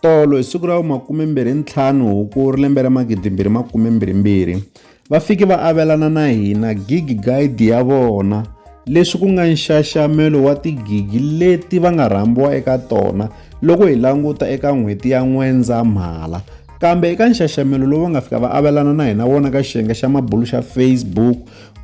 Tolo hi siku ra vu 25 Hukuri lembe ra 2022, va fike va avelana na hina gigi guide ya vona leswi ku nga nxaxamelo wa tigigi leti va nga rhambiwa eka tona loko hi languta eka n'hweti ya N'wendzamhala. Kambe eka nxaxamelo lowu va nga fika va avelana na hina wona ka xiyenge xa mabulu xa Facebook,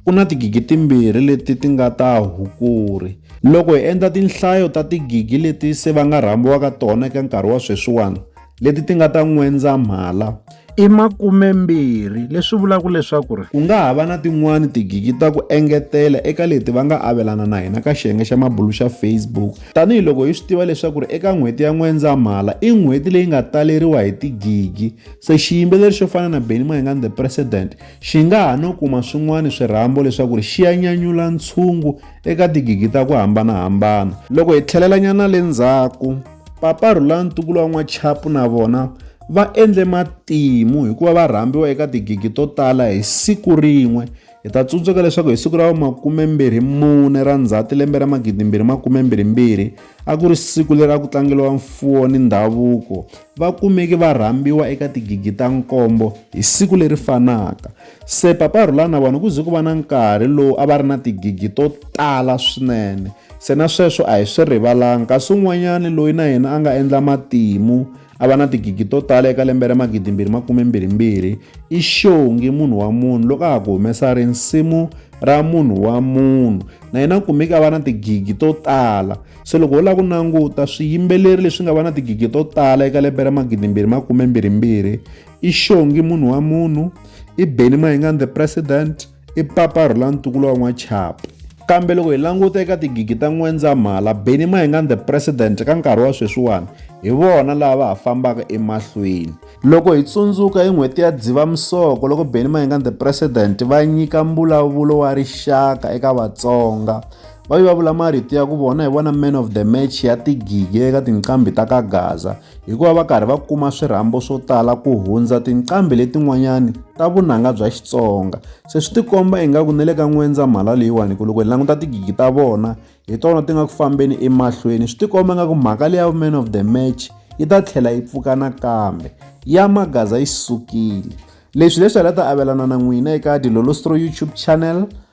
Ku na tigigi timbirhi leti ti nga ta hukuri. Loko hi endla tinhlayo ta tigigi leti se va nga rhambiwaka tona eka nkarhi wa sweswiwana, leti ti nga ta N'wendzamhala, i makumembirhi, leswi vulaka leswaku ri. Ku nga ha va na tin'wana tigigi ta ku engetela eka leti va nga avelana na hina ka xiyenge xa mabulu xa Facebook, tanihi loko hi swi tiva leswaku ri eka n'hweti ya N'wendzamhala i n'hweti leyi nga taleriwa hi tigigi. Se xiyimbeleri xo fana na Benny Mayengani The President, Xi nga ha no kuma swin'wana swirhambo leswaku xi ya nyanyula ntshungu eka tigigi ta ku hambana-hambana. Loko hi tlhelelanyana le ndzhaku, Papa Rhulan ntukulu wa N'wachapu na vona va endle matimu hi ku va va rhambiwa eka tigigi to tala hi siku rin'we. Hi ta tsundzuka leswaku hi siku ra vu makume-mbirhi mune ra Ndzhati lembe ra magidi-mbirhi makume-mbirhi-mbirhi, a ku ri siku leri a ku tlangeriwa mfuwo ni ndhavuko, va kumeke va rhambiwa eka tigigi ta nkombo hi siku leri fanaka. Se Papa Rhula na vona ku ze ku va na nkarhi lowu a va ri na tigigi to tala swinene. Se na sweswo a hi swi rivalanga. Kasi un'wanyana loyi na yena a nga endla matimu a va na tigigi to tala eka lembe ra magidimbirhi makumembirhimbirhi i Xongi munhu wa munhu loko a ha ku humesa risimu ra munhu wa munhu. Na yena u kumeke a va na tigigi to tala. Se loko ho lava ku languta swiyimbeleri leswi nga va na tigigi to tala eka lembe ra magidimbirhi makume mbirhimbirhi i xongi munhu wa munhu i beni mayingani the president i papa rhulani tukulo wa n'wachapu kambe loko hi languta eka tigigi ta n'wendzamhala beni mayingani the president ka nkarhi wa sweswiwani hi vona laha va ha fambaka emahlweni loko hi tsundzuka hi n'hweti ya dzivamisoko loko beni mayingani the president va nyika mbulavulo wa rixaka eka vatsonga va vulavula marito ya ku vona hi vona man of the match ya tigigi eka tinqambi ta ka gaza hikuva va karhi va kuma swirhambo swo tala ku hundza tinqambi letin'wanyani ta vunanga bya xitsonga se swi tikomba ingaku ni le ka n'wendza mhala leyiwani ku loko hi languta tigigi ta vona hi tona ti nga ku fambeni emahlweni swi tikomba ingaku mhaka leya man of the match yi ta tlhela yi pfuka nakambe ya magaza yi sukile leswi leswi hi la ta avelana na n'wina eka dilolostro youtube channel